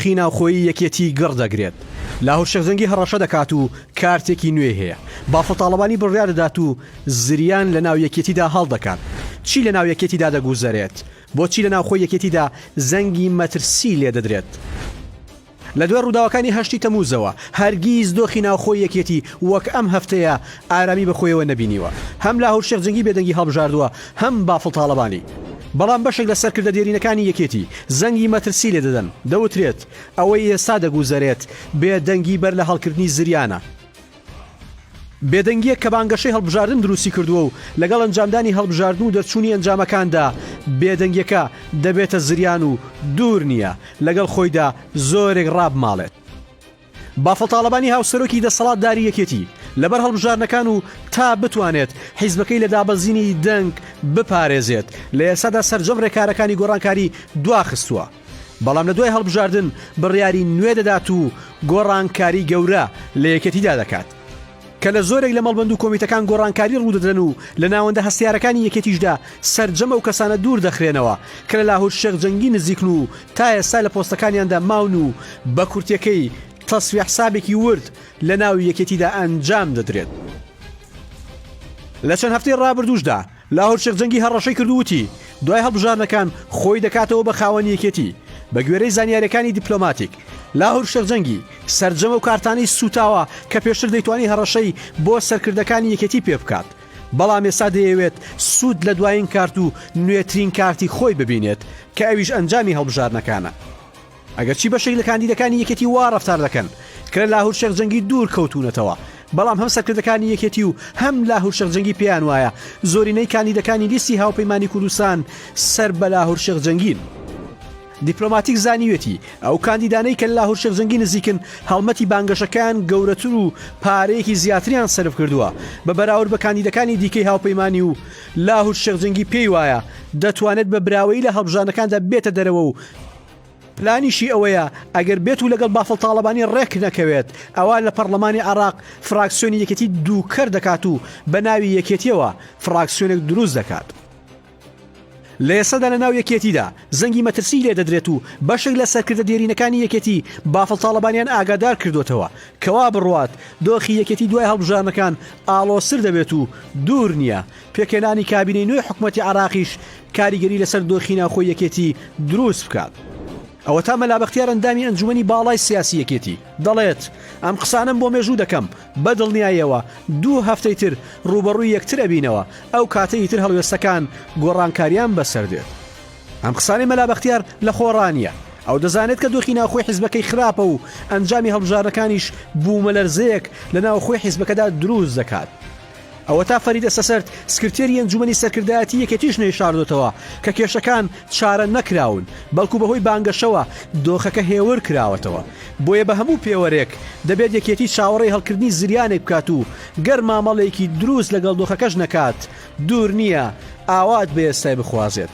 دۆخی ناوخۆیی یەکێتی گڕ دەگرێت، لاهور شێخ جەنگی هەڕەشە دەکات و کارتێکی نوێی هەیە، بافڵ تاڵەبانی بڕیار دەدات و زریان لە ناو یەکێتیدا هەڵدەکات. چی لە ناو یەکێتیدا دەگوزەرێت؟ بۆچی لە ناوخۆی یەکێتیدا زەنگی مەترسی لێدەدرێت؟ لە دوای ڕووداوەکانی هەشتی تەمووزەوە، هەرگیز دۆخی ناوخۆی یەکێتی وەک ئەم هەفتەیە ئارامی بە خۆیەوە نەبینیوە. هەم لاهور شێخ جەنگی بێدەنگی هەڵبژاردووە، هەم بافڵ تاڵەبانی. بەڵام بەشێک لە سەرکردە دێرینەکانی یەکێتی زەنگی مەترسی لێ دەدەن. دەوترێت، ئەوەی ئێستا دەگوزەرێت، بێدەنگی بەر لە هەڵکردنی زریانە. بێدەنگییەک کە بانگەشەی هەڵبژاردن دروستی کردووە و لەگەڵ ئەنجامدانی هەڵبژاردن و دەرچوونی ئەنجامەکاندا بێدەنگییەکە دەبێتە زریان و دوور نییە لەگەڵ خۆیدا زۆرێک ڕابماڵێت. بافڵ تاڵەبانی هاوسەرۆکی دەسەڵاتداری یەکێتی لەبەر هەڵبژاردنەکان و تا بتوانێت حیزبەکەی لە دابەزینی دەنگ بپارێزێت لە ئێستادا سەرجەم ڕێکارەکانی گۆڕانکاری دواخستووە. بەڵام لە دوای هەڵبژاردن بڕیاری نوێ دەدات و گۆڕانکاری گەورە لە یەکێتیدا دەکات. کە لە زۆرێک لە مەڵبەند و کۆمیتەکان گۆڕانکاری ڕوودەدرێن و لە ناوەندە هەستیارەکانی یەکێتیشدا سەرجەم ئەو کەسانە دوور دەخرێنەوە کە لە لاهور شێخ جەنگی نزیکن و تا ئێستا لە پۆستەکانیاندا ماون و بە کورتیەکەی تەسفیە حسابێکی ورد لە ناو یەکێتیدا ئەنجام دەدرێت. لە چەند هەفتەی ڕابردووشدا، لاهور شێخ جەنگی هەڕەشەی کرد و وتی، دوای هەڵبژاردنەکان خۆی دەکاتەوە بە خاوەنی یەکێتی. بە گوێرەی زانیارییەکانی دیپلۆماتیک، لاهور شێخ جەنگی سەرجەم ئەو کارتانەی سووتاوە کە پێشتر دەیتوانی هەڕەشەی بۆ سەرکردەکانی یەکێتی پێ بکات، بەڵام ئێستا دەیەوێت سوود لە دوایین کارت و نوێترین کارتی خۆی ببینێت کە ئەویش ئەنجامی هەڵبژاردنەکانە. ئەگەرچی بەشێک لە کاندیدەکانی یەکێتی وا ڕەفتار دەکەن کە لە لاهور شێخ جەنگی دوور کەوتوونەتەوە، بەڵام هەم سەرکردەکانی یەکێتی و هەم لاهور شێخ جەنگی پێیان وایە زۆرینەی کاندیدەکانی لیستی هاوپەیمانی کوردستان سەر بە لاهور شێخ جەنگین. دیپلۆماتیک زانیویەتی ئەو کاندیدانەی کە لە لاهور شێخ جەنگی نزیکن هەڵمەتی بانگەشەکەیان گەورەتر و پارەیەکی زیاتریان سەرف کردووە بە بەراورد بە کاندیدەکانی دیکەی هاوپەیمانی و لاهور شێخ جەنگی پێی وایە دەتوانێت بە براوەیی لە هەڵبژاردنەکاندا بێتە دەرەوە و پلانیشی ئەوەیە ئەگەر بێت و لەگەڵ بافڵ تاڵەبانی ڕێک نەکەوێت، ئەوا لە پەڕڵەمانی عێڕاق فڕاکسیۆنی یەکێتی دووکەر دەکات و بە ناوی یەکێتیەوە فڕاکسیۆنێک دروست دەکات. لە ئێستادا لە ناو یەکێتیدا زەنگی مەترسیی لێ دەدرێت و بەشێک لە سەرکردە دێرینەکانی یەکێتی بافڵ تاڵەبانیان ئاگادار کردووەتەوە کە وا بڕوات دۆخی یەکێتی دوای هەڵبژاردنەکان ئاڵۆزتر دەبێت و دوور نییە پێکهێنانی کابینەی نوێی حکومەتی عێراقیش کاریگەری لەسەر دۆخی ناوخۆی یەکێتی دروست بکات. ئەوەتا مەلا بەختیار ئەندامی ئەنجومەنی باڵای سیاسی یەکێتی، دەڵێت، ئەم قسانەم بۆ مێژوو دەکەم، بەدڵنیایەوە دوو هەفتەی تر رووبەڕووی یەکتر ئەبینەوە، ئەو کاتە ئیتر هەڵوێستەکان گۆڕانکاریان بەسەر دێت. ئەم قسانەی مەلا بەختیار لەخۆڕا نییە، ئەو دەزانێت کە دۆخی ناوخۆی حیزبەکەی خراپە و ئەنجامی هەڵبژاردنەکانیش بوومەلەرزەیەک لە ناوخۆی حیزبەکەدا دروست دەکات. ئەوەتا فەریدە سەسەرد، سکرتێری ئەنجوومەنی سەرکردایەتی یەکێتیش نەیشاردۆتەوە کە کێشەکان چارە نەکراون، بەڵکو بەهۆی بانگەشەوە دۆخەکە هێور کراوەتەوە، بۆیە بە هەموو پێوەرێک دەبێت یەکێتی چاوەڕێی هەڵکردنی زریانێک بکات و گەر مامەڵەیەکی دروست لەگەڵ دۆخەکەش نەکات، دوور نییە ئاوات بە ئێستای بخوازێت.